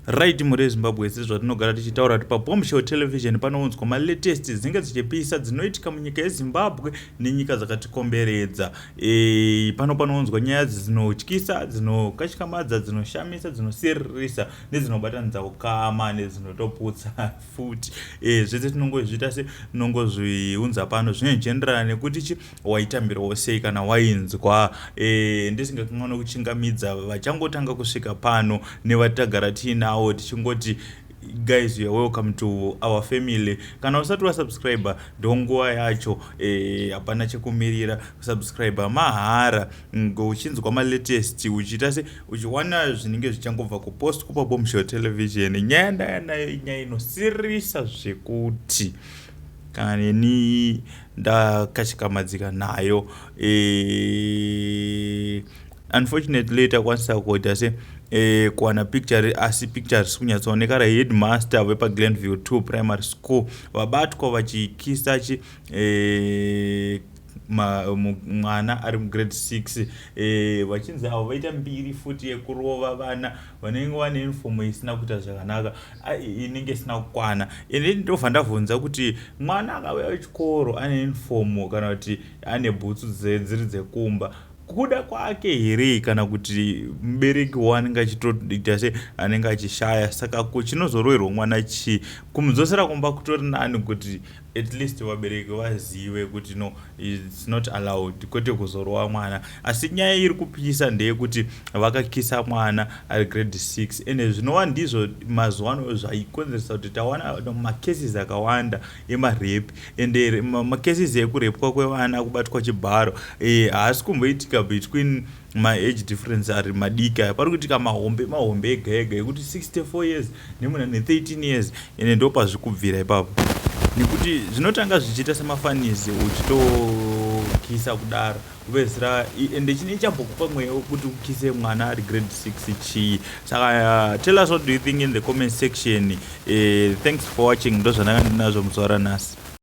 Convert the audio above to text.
Right mhuri yeZimbabwe sezvatinogara tichitaura kuti paBombshell Television panounzwa malatest dzinenge dzichipisa dzinoitika munyika yeZimbabwe nenyika dzakatikomberedza. E, pano panounzwa nyaya dzinotyisa, dzinokashikamadza, dzinoshamisa, dzinosiririsa nedzinobatanidza ukama nedzinotoputsa futi. E, zvese tinongozviita se tinongozviunza pano zvinoenjenderana nekuti chi waitambirawo sei kana wainzwa e, ndisingakanwa nokuchingamidza vachangotanga kusvika pano nevatagara tiinawo tichingoti guys you're welcome to our family kana usati wasubscribe ndonguva yacho eh, hapana e, chekumirira kusubscribe mahara uchinzwa malatest uchiita se uchiwana zvinenge zvichangobva kupost kupa bomshow television nyaya ndayanayo inyaya inosirisa zvekuti kana neni ndakashikamadziga nayo e, unfortunately takwanisa kuita se e, kuwana picture asi picture risi kunyatsooneka raheadmaster vepaglenview 2 primary school vabatwa vachikisa chi e, mwana ari mugrade 6 e, vachinzi avo vaita mbiri futi yekurova vana vanenge vane unifomu isina kuita zvakanaka inenge isina kukwana and then ndobva ndavhunza kuti mwana akauya wechikoro ane uniform kana kuti ane bhutsu dziri dzekumba kuda kwake here kana kuti mubereki wanenge achitoita se anenge achishaya saka chinozoroerwa mwana chii kumudzosera kumba kutori nani kuti at least vabereki vazive kuti no its not allowed kwete kuzorova mwana asi nyaya iri kupisa ndeyekuti vakakisa mwana ari grade 6 ende zvinova ndizvo mazuva ano zvaikonzeresa kuti tawana macases akawanda emarepi ende macases ekurepwa kwevana kubatwa chibharo eh, haasi kumboitika between uh, maage difference ari madiki aya pari kuitika mahombe mahombe ega ega ekuti 64 years nemuna ne13 years ende ndo pazvi kubvira ipapo nekuti zvinotanga zvichiita semafanizi uchitokisa kudaro kupedzisira ende chine chambokupa mweya wekuti ukise mwana ari grade 6 chii saka uh, tell us what do you think in the comment section uh, thanks for watching ndozvananga ndinazvo muzuva ranhasi